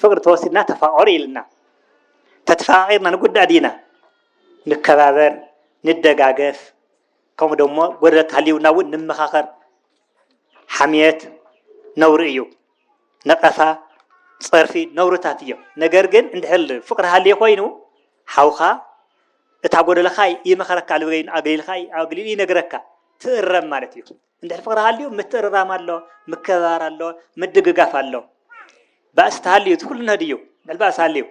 ፍቅሪ ተወሲድና ተፋቀሩ ኢልና ተተፋቂርና ንጉዳእ ዲና ንከባበር ንደጋገፍ ከምኡ ደሞ ጎደለት ሃልዩና እውን ንመኻኸር ሓምየት ነውሪ እዩ ነቀፋ ፀርፊ ነውርታት እዮም ነገር ግን እንድሕል ፍቅሪ ሃልየ ኮይኑ ሓውካ እታ ጎደለካ ይመኸረካ ልበገይኑ ኣግሊልካ ኣግሊሉ ይነግረካ ትእረም ማለት እዩ እንድሕር ፍቕሪ ሃልዩ ምትእርራም ኣሎ፣ ምክብባር ኣሎ፣ ምድግጋፍ ኣሎ። ባእሲ ተሃልዩ እቲ ኩሉ ነድዩ ልዕሊ ባእሲ ሃልዩ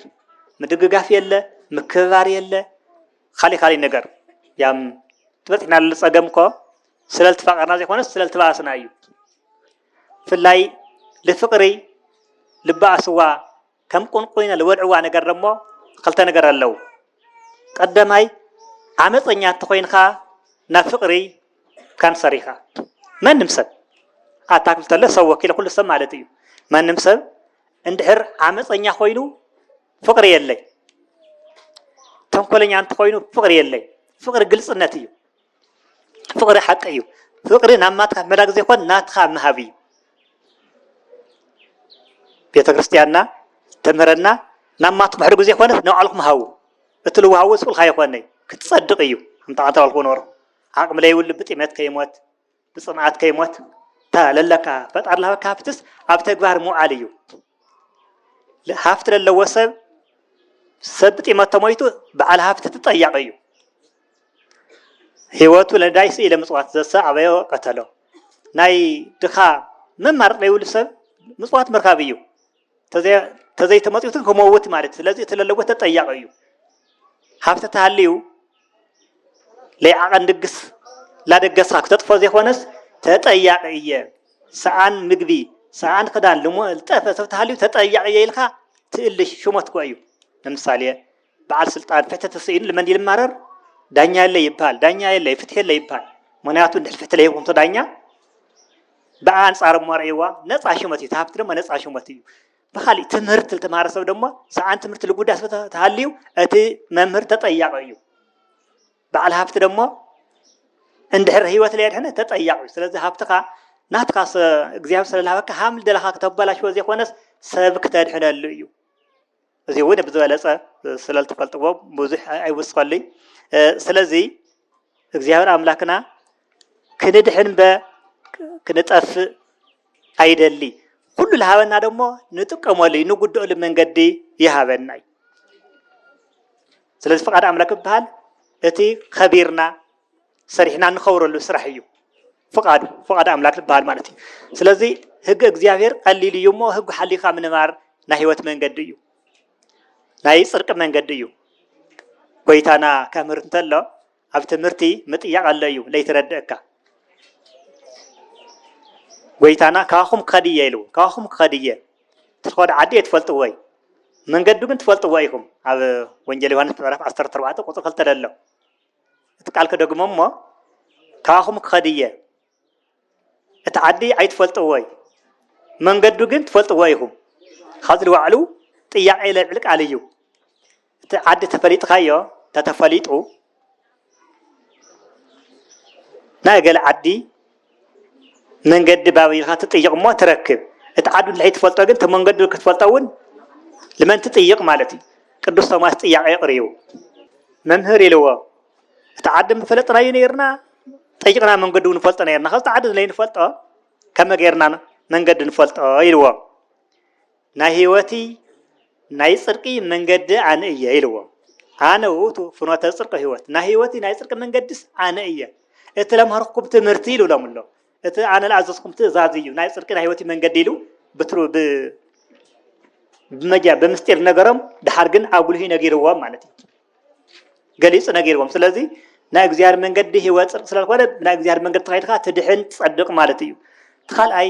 ምድግጋፍ የለ፣ ምክብባር የለ፣ ካሊእ ካሊእ ነገር ያም ዝበፅሕናሉ ፀገም እኮ ስለልተፋቐርና ዘይኮነስ ስለልተባእስና እዩ። ብፍላይ ልፍቕሪ ልባእስዋ ከም ቁንቁይነ ልበልዕዋ ነገር ደሞ ኽልተ ነገር ኣለው። ቀደማይ ዓመጸኛ እንተኾይንኻ ናብ ፍቅሪ ካንሰር ኢኻ። መንም ሰብ ኣታ ክብል ተሎ ሰብ ወኪለ ኩሉ ሰብ ማለት እዩ። መንም ሰብ እንድሕር ዓመጸኛ ኮይኑ ፍቅሪ የለይ። ተንኮለኛ እንተኾይኑ ፍቅሪ የለይ። ፍቅሪ ግልጽነት እዩ። ፍቅሪ ሓቂ እዩ ፍቅሪ ናብ ማትካ መላክ ዘይኮን ናትካ ምሃብ እዩ ቤተክርስትያንና ተምህረና ናብ ማትኩም ሕድጉ ዘይኮነስ ናብ ባዕልኩም ሃቡ እቲ ልዋሃቡ ስቁልካ ይኮነይ ክትጸድቅ እዩ ኣንተ ኣንተ ባልኩ ኖር ዓቅሚ ለይብሉ ብጥሜት ከይሞት ብፅምኣት ከይሞት እታ ለለካ ፈጣሪ ልሃበካ ሃፍትስ ኣብ ተግባር ምውዓል እዩ። ሃፍቲ ለለዎ ሰብ ሰብ ብጢመት ተሞይቱ በዓል ሃፍቲ ትጠያቂ እዩ። ህይወቱ ለዳይ ስኢለ ምፅዋት ዘሰ ኣበዮ ቀተሎ ናይ ድኻ መማረፅ ዘይብሉ ሰብ ምፅዋት ምርካብ እዩ። ተዘይተመፅዩት ክመውት ማለት ስለዚ እቲ ለለጎ ተጠያቂ እዩ ሃብቲ ተሃልዩ ለይዓቐን ድግስ ላደገስካ ክተጥፎ ዘይኮነስ ተጠያቂ እየ ሰኣን ምግቢ ሰኣን ክዳን ልሞ ልጠፈ ሰብ ተሃልዩ ተጠያቂ እየ ኢልካ ትእልሽ ሽሞትኮ እዩ ንምሳሌ በዓል ስልጣን ፍትሒ ተሰኢኑ ልመን ይልማረር ዳኛ የለ ይበሃል ዳኛ የለ ፍትሒ የለ ይበሃል ምክንያቱ እንድሕር ፍትሒ ለይኹንቶ ዳኛ ብኣ ኣንጻር እሞ ርእይዋ ነፃ ሽመት እዩ ተሃብቲ ድማ ነፃ ሽመት እዩ ብካሊእ ትምህርቲ ዝተምሃረ ሰብ ድማ ሰዓን ትምህርቲ ልጉዳ ስለ ተሃልዩ እቲ መምህር ተጠያቂ እዩ በዓል ሃፍቲ ደግሞ እንድሕር ህይወት ለየድሕነ ተጠያቂ እዩ ስለዚ ሃብትኻ ናትካ እግዚኣብሔር ስለዝሃበካ ሃም ደለኻ ክተበላሽዎ ዘይኮነስ ሰብ ክተድሕነሉ እዩ እዚ እውን ብዝበለፀ ስለዝትፈልጥዎ ብዙሕ ኣይውስኸሉይ ስለዚ እግዚኣብሔር ኣምላክና ክንድሕን በ ክንጠፍእ ኣይደሊ ኩሉ ዝሃበና ደሞ ንጥቀመሉ እዩ ንጉድኦሉ መንገዲ ይሃበና እዩ ስለዚ ፍቃድ ኣምላክ ይበሃል እቲ ከቢርና ሰሪሕና እንኸብረሉ ስራሕ እዩ ፍቃዱ ፍቃድ ኣምላክ ዝበሃል ማለት እዩ ስለዚ ህግ እግዚኣብሔር ቀሊል እዩ እሞ ህግ ሓሊካ ምንባር ናይ ህይወት መንገዲ እዩ ናይ ፅርቂ መንገዲ እዩ ጎይታና ከምህር እንተሎ ኣብ ትምህርቲ ምጥያቅ ኣሎ እዩ ለይትረድእካ ጎይታና ካባኹም ክኸድ እየ ኢሉ ካባኹም ክኸድ እየ ትኸዱ ዓዲ እየ ትፈልጥዎ እዩ መንገዱ ግን ትፈልጥዎ ኢኹም ኣብ ወንጀል ዮሃንስ ምዕራፍ 14 ቁፅሪ ክልተ ደሎ እቲ ቃል ክደግሞ እሞ ካባኹም ክኸድ እየ። እቲ ዓዲ ኣይትፈልጥዎይ መንገዱ ግን ትፈልጥዎ ኢኹም። ካብዚ ንባዕሉ ጥያቄ ለልዕል ቃል እዩ። እቲ ዓዲ ተፈሊጥካዮ ተተፈሊጡ ናይ ገለ ዓዲ መንገዲ ባብ ኢልካ ትጥይቕ እሞ ትረክብ እቲ ዓዱ እንድሕይ ትፈልጦ ግን እቲ መንገዱ ክትፈልጦ እውን ልመን ትጥይቕ ማለት እዩ ቅዱስ ቶማስ ጥያቄ የቕርቡ መምህር ኢልዎ እቲ ዓዲ ምፈለጥናዩ ነይርና ጠይቕና መንገዱ ንፈልጦ ነይርና ካብቲ ዓዲ ዘይንፈልጦ ከመ ገይርና መንገዲ ንፈልጦ ኢልዎም ናይ ሕይወቲ ናይ ጽርቂ መንገዲ ኣነ እየ ኢልዎ ኣነ ውእቱ ፍኖተ ጽርቂ ሕይወት ናይ ሕይወቲ ናይ ጽርቂ መንገድስ ኣነ እየ እቲ ለምሃርኩም ትምህርቲ ኢሉ ሎም ኣሎ እቲ ኣነ ለኣዘዝኩም ትእዛዝ እዩ ናይ ጽርቂ ናይ ሕይወቲ መንገዲ ኢሉ ብትሩ ብመጃ ብምስጢር ነገሮም ድሓር ግን ኣጉልሂ ነጊርዎም ማለት እዩ ገሊጹ ነጊርዎም ስለዚ ናይ እግዚኣብሔር መንገዲ ህይወት ጽድቅ ስለዝኮነ ናይ እግዚኣብሔር መንገዲ ተኸይድካ ትድሕን ትጸድቅ ማለት እዩ እቲ ካልኣይ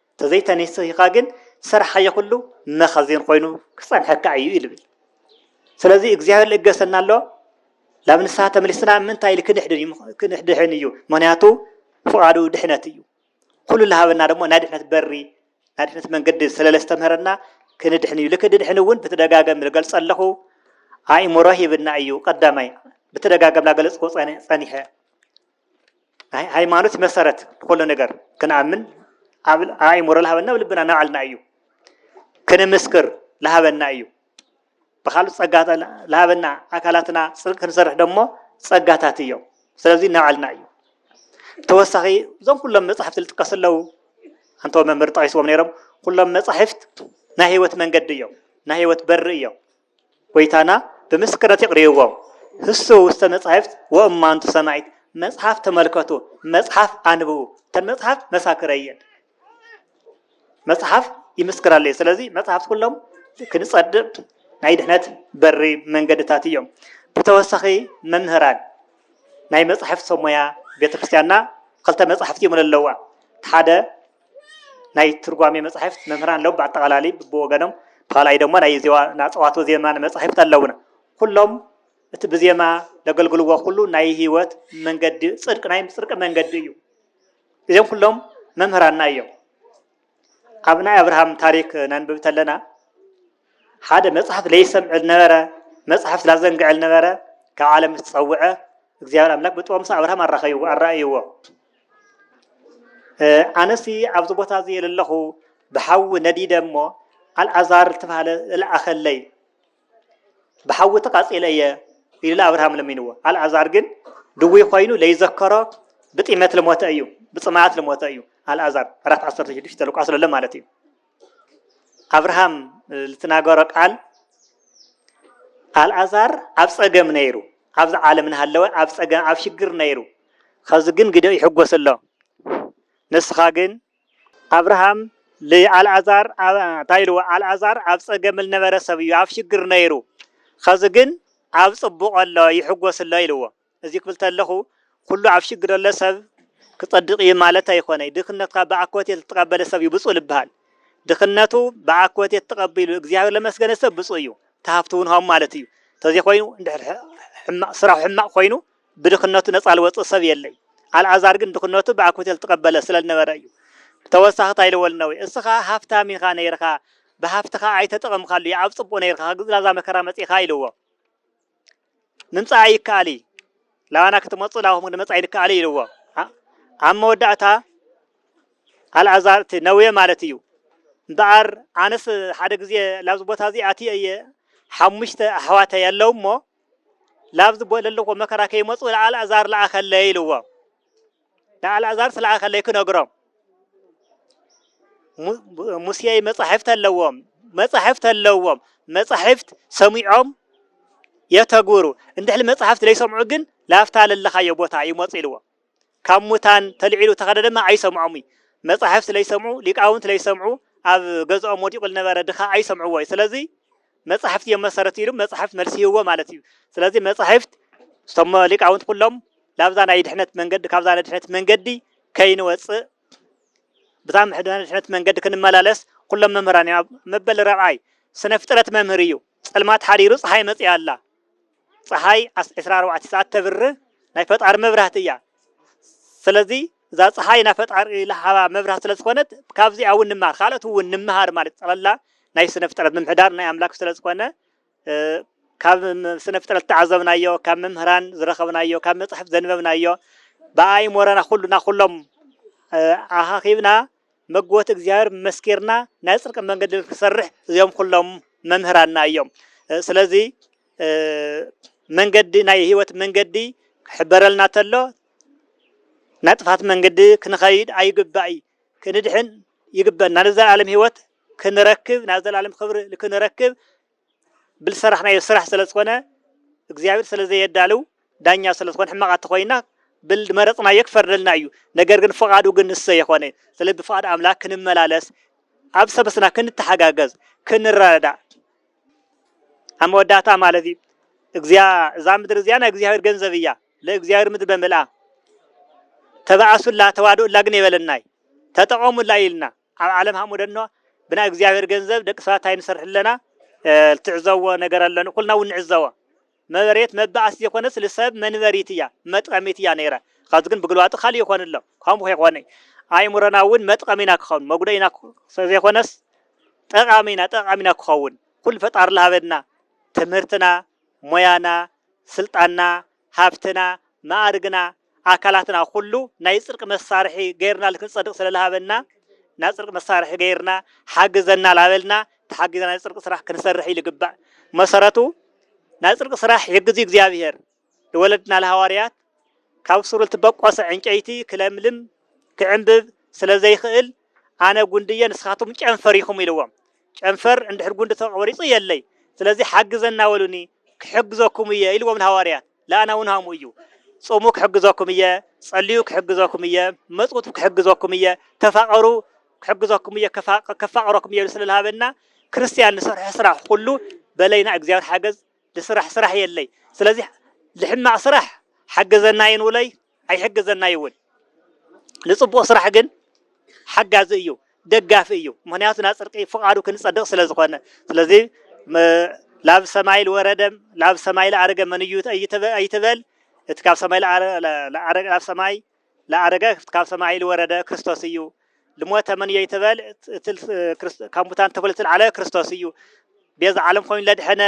ተዘይተኔሲሂካ ግን ዝሰርሓዮ ኩሉ መኸዜን ኮይኑ ክጸንሐካ እዩ እዩ ልብል ስለዚ እግዚኣብሔር ልእገሰና ኣሎ ናብ ንስሓ ተመሊስና ምንታይ ኢል ክንድሕን እዩ ምክንያቱ ፍቓዱ ድሕነት እዩ ኩሉ ልሃበና ደሞ ናይ ድሕነት በሪ ናይ ድሕነት መንገዲ ስለለስተምህረና ክንድሕን እዩ ልክ ድድሕን እውን ብተደጋገም ዝገልጸ ኣለኹ ኣእምሮ ሂብና እዩ ቀዳማይ ብተደጋገም ላገለጽዎ ጸኒሐ ሃይማኖት መሰረት ንኩሉ ነገር ክንኣምን ኣብ ኣእምሮ ዝሃበና ኣብ ልብና ናባዕልና እዩ ክንምስክር ዝሃበና እዩ ብካልእ ፀጋ ዝሃበና ኣካላትና ፅድቂ ክንሰርሕ ደሞ ፀጋታት እዮም ስለዚ ናባዕልና እዩ ተወሳኺ እዞም ኩሎም መፅሕፍቲ ዝጥቀሱ ኣለዉ ኣንተ መምህር ጠቂስዎም ነይሮም ኩሎም መፃሕፍት ናይ ህይወት መንገዲ እዮም ናይ ህይወት በሪ እዮም ጐይታና ብምስክርነት የቕርብዎም፣ ህሱ ውስተ መጻሕፍት ወእማንቱ ሰማዒት፣ መጽሓፍ ተመልከቱ፣ መጽሓፍ ኣንብቡ፣ እተን መጽሓፍት መሳክረይ እየን፣ መጽሓፍ ይምስክራለይ፣ ስለዚ መጽሓፍት ኩሎም ክንጸድቕ ናይ ድሕነት በሪ መንገድታት እዮም፣ ብተወሳኺ መምህራን ናይ መጻሕፍት ሰብ ሞያ ቤተ ክርስቲያንና ክልተ መጻሕፍት እዮም ለለዋ፣ እቲ ሓደ። ናይ ትርጓሜ መጻሕፍት መምህራን ኣለዉ ብኣጠቓላሊ ብወገኖም ካልኣይ ደሞ ናይ ዜዋ ናጸዋቶ ዜማ መጻሕፍት ኣለዉና ኩሎም እቲ ብዜማ ለገልግልዎ ኩሉ ናይ ህይወት መንገዲ ጽድቂ ናይ ጽድቂ መንገዲ እዩ እዚም ኩሎም መምህራና እዮም ኣብ ናይ ኣብርሃም ታሪክ ነንብብ ተለና ሓደ መጽሐፍ ለይሰምዕ ልነበረ መጽሐፍት ላዘንግዐ ልነበረ ካብ ዓለም ምስ ጸውዐ እግዚኣብሔር ኣምላክ ብጥበብ ምስ ኣብርሃም ኣራኸይዎ ኣራእይዎ ኣነሲ ኣብዚ ቦታ እዚ የለለኹ ብሓዊ ነዲደ እሞ ኣልኣዛር ዝተባሃለ ልኣኸለይ ብሓዊ ተቃጺለ እየ ኢሉ ኣብርሃም ለሚንዎ ኣልኣዛር ግን ድዊ ኮይኑ ለይዘከሮ ብጢመት ልሞተ እዩ ብፅማኣት ልሞተ እዩ ኣልኣዛር ኣራት ዓሰርተ ሽዱሽተ ልቋስ ለሎ ማለት እዩ ኣብርሃም ዝተናገሮ ቃል ኣልኣዛር ኣብ ጸገም ነይሩ ኣብዚ ዓለም እናሃለወ ኣብ ጸገም ኣብ ሽግር ነይሩ ኸዚ ግን ግደ ይሕጎስ ኣሎ ንስኻ ግን ኣብርሃም ልኣልኣዛር እንታይ ኢልዎ ኣልኣዛር ኣብ ጸገም ልነበረ ሰብ እዩ ኣብ ሽግር ነይሩ ኸዚ ግን ኣብ ጽቡቕ ኣሎ ይሕጎስ ኣሎ ኢልዎ እዚ ክብል ተለኹ ኩሉ ኣብ ሽግር ዘሎ ሰብ ክጸድቅ እዩ ማለት ኣይኮነይ ድክነትካ ብኣኮቴት ልተቀበለ ሰብ እዩ ብጹእ ልበሃል ድክነቱ ብኣኮቴት ተቀቢሉ እግዚኣብሔር ለመስገነ ሰብ ብጹእ እዩ ተሃፍቱ ውን ሃሙ ማለት እዩ ተዘይኮይኑ እንድሕር ሕማቅ ስራሑ ሕማቅ ኮይኑ ብድክነቱ ነጻ ልወጽእ ሰብ የለይ ኣልኣዛር ግን ድክነቱ ብኣኮቴት ልተቀበለ ስለ ልነበረ እዩ ብተወሳኺ ታይ ልወል እነዌ እስኻ ሃፍታም ኢኻ ነይርኻ ብሃፍትኻ ኣይተጠቀምካሉ ኣብ ጽቡቅ ነይርኻ ግዝላዛ መከራ መጺእካ ኢልዎ ምምጻኣ ይከኣል እዩ ላባና ክትመጹ ላባኹም ንመጻኢ ንከኣል ኢልዎ ኣብ መወዳእታ ኣልኣዛር እቲ ነውየ ማለት እዩ እምበኣር ኣነስ ሓደ ግዜ ላብዚ ቦታ እዚ ኣትየ እየ ሓሙሽተ ኣሕዋተይ ኣለዉ እሞ ላብዚ ዘለዎ መከራ ከይመፁ ኣልኣዛር ለኣኸለይ ኢልዎ ንኣልኣዛር ስለ ኣኸለይ ክነግሮም ሙሴ መጻሕፍት ኣለዎም መጻሕፍት ኣለዎም መጻሕፍት ሰሚዖም የተግብሩ እንድሕሊ መጽሕፍት ዘይሰምዑ ግን ላፍታ ለለኻዮ ቦታ ይመፁ ኢልዎ ካብ ሙታን ተልዒሉ ተኸደ ድማ ኣይሰምዖም እዩ መጻሕፍት ለይሰምዑ ሊቃውንት ለይሰምዑ ኣብ ገዝኦም ወዲቑ ዝነበረ ድኻ ኣይሰምዕዎ እዩ ስለዚ መጻሕፍቲ እዮም መሰረት ኢሉ መጻሕፍት መልሲ ይህቦ ማለት እዩ ስለዚ መጻሕፍት እቶም ሊቃውንት ኩሎም ላብዛ ናይ ድሕነት መንገዲ ካብዛ ናይ ድሕነት መንገዲ ከይንወፅእ ብዛ ምሕድና ድሕነት መንገዲ ክንመላለስ ኩሎም መምህራን እዮም መበል ረብዓይ ስነ ፍጥረት መምህር እዩ ጸልማት ሓዲሩ ፀሓይ መፅያ ኣላ ጸሓይ ዓስ ዕስራ ኣርባዕተ ሰዓት ተብር ናይ ፈጣሪ መብራህቲ እያ ስለዚ እዛ ፀሓይ ናይ ፈጣሪ ለሃባ መብራህቲ ስለ ዝኾነት ካብዚኣ እውን ንመሃር ካልኦት እውን ንመሃር ማለት ጠቕላላ ናይ ስነ ፍጥረት ምምሕዳር ናይ ኣምላክ ስለ ዝኾነ ካብ ስነ ፍጥረት ተዓዘብናዮ ካብ መምህራን ዝረኸብናዮ ካብ መፅሕፍ ዘንበብናዮ ብኣእምሮና ኩሉና ኩሎም ኣኻኺብና መግቦት እግዚኣብሔር መስኪርና ናይ ጽድቂ መንገዲ ንክንሰርሕ እዚኦም ኩሎም መምህራንና እዮም ስለዚ መንገዲ ናይ ህይወት መንገዲ ክሕበረልና ተሎ ናይ ጥፋት መንገዲ ክንኸይድ ኣይግባእ ክንድሕን ይግበና ንዘለዓለም ህይወት ክንረክብ ናብ ዘላለም ክብሪ ክንረክብ ብልሰራሕናዮ ስራሕ ሰለዝኮነ እግዚኣብሔር ሰለዘየዳልው ዳኛ ሰለዝኮነ ሕማቃት ተኮይና ብልመረፅናዮ ክፈርደልና እዩ ነገር ግን ፍቃዱ ግን ንሱ ዘይኮነ ሰለዚ ብፍቃድ ኣምላክ ክንመላለስ ኣብ ሰበስና ክንተሓጋገዝ ክንረዳዳእ ኣብ መወዳእታ ማለት እዩ እግዚያ እዛ ምድሪ እዚኣ ናይ እግዚኣብሔር ገንዘብ እያ ለእግዚኣብሔር ምድሪ በምልኣ ተባኣሱላ ተዋድኡላ ግን የበለናይ ተጠቀሙላ ኢልና ኣብ ዓለም ሃሞደኖ ብናይ እግዚኣብሔር ገንዘብ ደቂ ሰባት ታይ ንሰርሕ ኣለና ልትዕዘዎ ነገር ኣለን ኩልና እውን ንዕዘዎ መበሬት መባእስ ዘይኮነስ ልሰብ መንበሪት እያ መጥቀሚት እያ ነይረ ኸዚ ግን ብግልባጡ ካልእ ይኾን ኣሎ ከምኡ ከይኾነ ኣእምሮና እውን መጥቀሚና ክኸውን መጉደኢና ዘይኮነስ ጠቃሚና ጠቃሚና ክኸውን ኩሉ ፈጣሪ ልሃበና ትምህርትና ሞያና ስልጣንና ሃብትና፣ መኣርግና፣ ኣካላትና ኩሉ ናይ ጽድቂ መሳርሒ ገይርና ልክንጸድቅ ስለ ልሃበና ናይ ጽድቂ መሳርሒ ገይርና ሓግዘና ላበልና ተሓጊዝና ናይ ጽድቂ ስራሕ ክንሰርሕ ይልግባእ መሰረቱ ናይ ጽድቂ ስራሕ ይሕግዝ እዩ እግዚኣብሔር ልወለድና ልሃዋርያት ካብ ሱር ልትበቆሰ ዕንጨይቲ ክለምልም ክዕንብብ ስለ ዘይክእል ኣነ ጉንዲ እየ ንስኻትኩም ጨንፈር ኢኹም ኢልዎም። ጨንፈር እንድሕር ጉንዲ ተቖሪጹ የለይ፣ ስለዚ ሓግዘና በሉኒ ክሕግዘኩም እየ ኢልዎም ንሃዋርያት። ለኣና እውን ሃምኡ እዩ። ጹሙ ክሕግዘኩም እየ፣ ጸልዩ ክሕግዘኩም እየ፣ መጽውቱ ክሕግዘኩም እየ፣ ተፋቐሩ ክሕግዘኩም እየ፣ ከፋቕረኩም እየ ኢሉ ስለ ልሃበና ክርስትያን ንሰርሖ ስራሕ ኹሉ በለይና እግዚኣብሔር ሓገዝ ልስራሕ ስራሕ የለይ ስለዚ ልሕማቅ ስራሕ ሓግዘናይን ውለይ ኣይሕግዘናይ እውን ልፅቡቅ ስራሕ ግን ሓጋዚ እዩ ደጋፊ እዩ ምክንያቱ ናብ ፅርቂ ፍቃዱ ክንፀድቅ ስለዝኮነ ስለዚ ላብ ሰማይ ልወረደም ላብ ሰማይ ልኣረገ መን እዩ ኣይትበል እቲ ካብ ሰማይ ልኣረገ ላብ ሰማይ ለአረገክት ካብ ሰማይ ልወረደ ክርስቶስ እዩ። ልሞተ መን እየይ ትበል እቲ ካብ ሙታን ተክሉ ልትልዓለ ክርስቶስ እዩ። ቤዛ ዓለም ኮይኑ ለድሐነ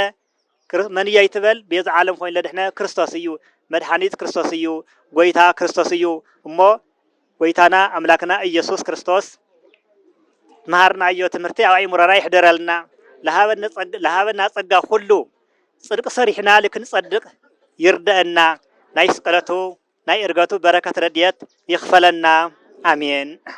መን እየይ ትበል ቤዛ ዓለም ኮይኑ ለድሕነ ክርስቶስ እዩ። መድሓኒት ክርስቶስ እዩ። ጎይታ ክርስቶስ እዩ። እሞ ጎይታና ኣምላክና ኢየሱስ ክርስቶስ መሃርናዮ ትምህርቲ ኣብ ኣእምሮና ይሕደረልና። ለሃበና ጸጋ ኩሉ ጽድቅ ሰሪሕና ልክንጸድቅ ይርደእና ናይ ስቅለቱ ናይ እርገቱ በረከት ረድኤት ይክፈለና ኣሜን።